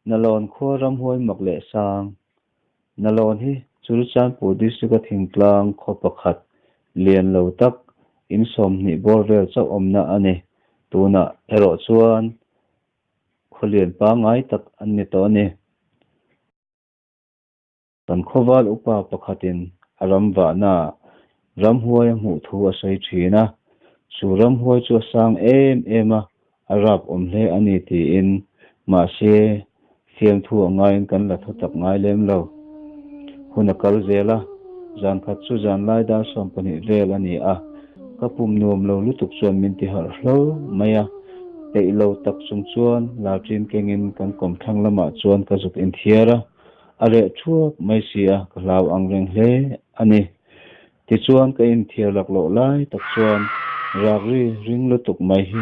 Nalaw'n khua ram huai mak leh sang. Nalaw'n hi Churichanpur District-a thingtlang khaw pakhat lian lo tak in sawmhnih bawr vel chauh awmna a ni. Tunah erawh chuan khawlian pangngai tak an ni tawh a ni. Kan khawval upa pakhatin a ram vahnaah ramhuai a hmuh thu a sawi thin a, chu ramhuai chu a sang em em a, a rap awm hle a ni tiin, mahse, fiamthu a ngaiin kan la tho tak ngai lem lo. Hun a kal zel a, zan khat chu zan laidar sawm pahnih vel a ni a, ka pum nuam lo lutuk chuan min ti harh hlo mai a, peih lo tak chung chuan lalṭin kengin kan kawmthlang lamah chuan ka zuk inthiar a. A reh thuak mai si a, ka hlau ang reng hle a ni. Tichuan ka inthiar laklawh lai tak chuan Rakri ring lutuk mai hi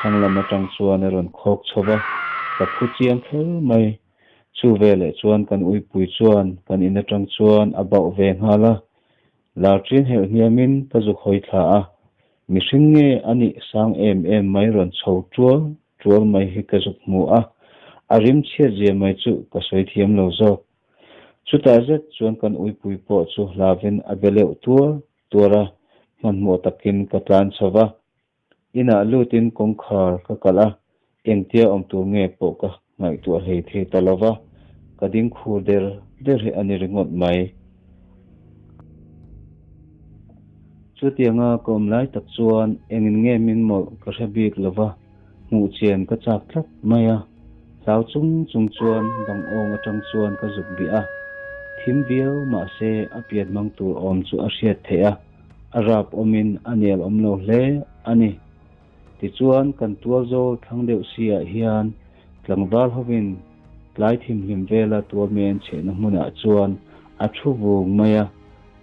thanglam atang chuan i rawn khawk chho va, ka phu chiang kher mai. Chu veleh chuan kan uipui chuan kan in atang chuan a bauh ve nghal a, lar ṭian herh hniamin ka zuk hawi thla a. Mihring nge a nih sang em em mai rawn chho tual tual mai hi ka zuk hmu a, a rim chhiat zia mai chu ka sawi thiam lo zawk. Chutah zet chuan kan uipui pawh chu hlavin a be leuh tuar tuar a, hmanhmawh takin ka tlan chho va, inah lutin kawngkhar ka kalh a, Engtia awm tur nge pawh ka ngaihtuah hlei thei ta lo va, ka dingkhur der der hi a ni ringawt mai. Chutianga ka awm lai tak chuan engin nge min mawlh ka hre bik lo va, hmuh chian ka chak tlat mai a. Hlau chung chung chuan bang awng atang chuan ka zuk bih a, thim viau mah se a pian hmang tur awm chu a hriat theih a, a rap awmin a nelawm lo hle a ni. Tichuan kan tualzawl thlang deuh sirah hian tlangval hovin tlai thimhlim vela tualmen chhehna hmunah chuan a thu vung mai a,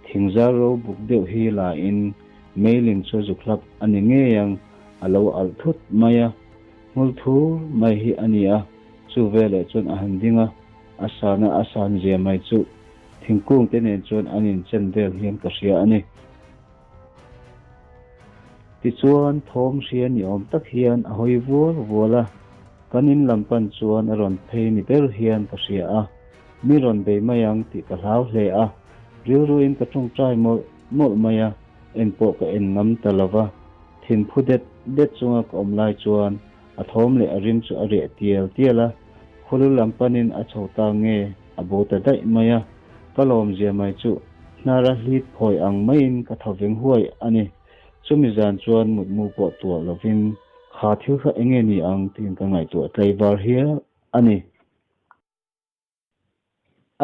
thingzar ro buk deuh hi lain Meiling chu zukhlap a ni ngei ang, a lo alh thut mai a, hmul thur mai hi a ni a, chu veleh chuan a han ding a, a sana a san zia mai chu thingkungte nen chuan an inchen vel hian ka hria a ni. Tichuan thawm hria ni awm tak hian a hawi vual vual a, kan in lam pan chuan a rawn phei ni ber hian ka hria a, mi rawn bei mai ang tih ka hlau hle a, rilru in ka tawngtai mawlh mawlh mai a, en pawh ka en ngam ta lo va, thin phu det det chunga ka awm lai chuan a thawm leh a rim chu a reh tial tial a, khulu lam pan in a chho ta nge A bu ta daih mai a, ka lawm zia mai chu hnar a hlit phawi ang maiin ka tho veng huai a ni. Chumi zan chuan mutmu pawh tuah lovin, Kha thil kha enge ni ang tiin ka ngaihtuah tleivar hial a ni.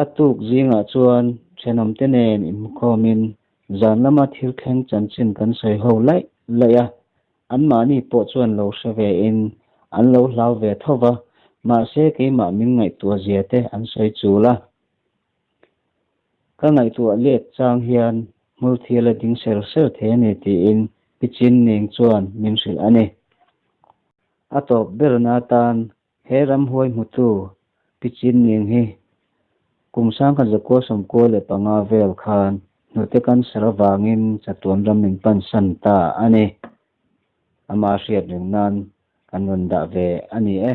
A tuk zingah chuan thenawmte nen inhmukhawmin zan lama thil thleng chanchin kan sawi ho laih laih a, Anmahni pawh chuan lo hre ve in an lo hlau ve tho va, mahse keimah min ngaihtuah zia te an sawi chul a. Ka ngaihtuah let chang hian hmulthil a ding ser ser the a ni tiin Piching ning chuan min hrilh a ni. A tawp berna tan He ramhuai hmu chu Pichinning hi kum sangkhat Zakual Sawmkual leh panga vel khan hnute kan ser avangin chatuan ram min pansan ta a ni. Amah hriat reng nan kan rawn dah ve a ni e.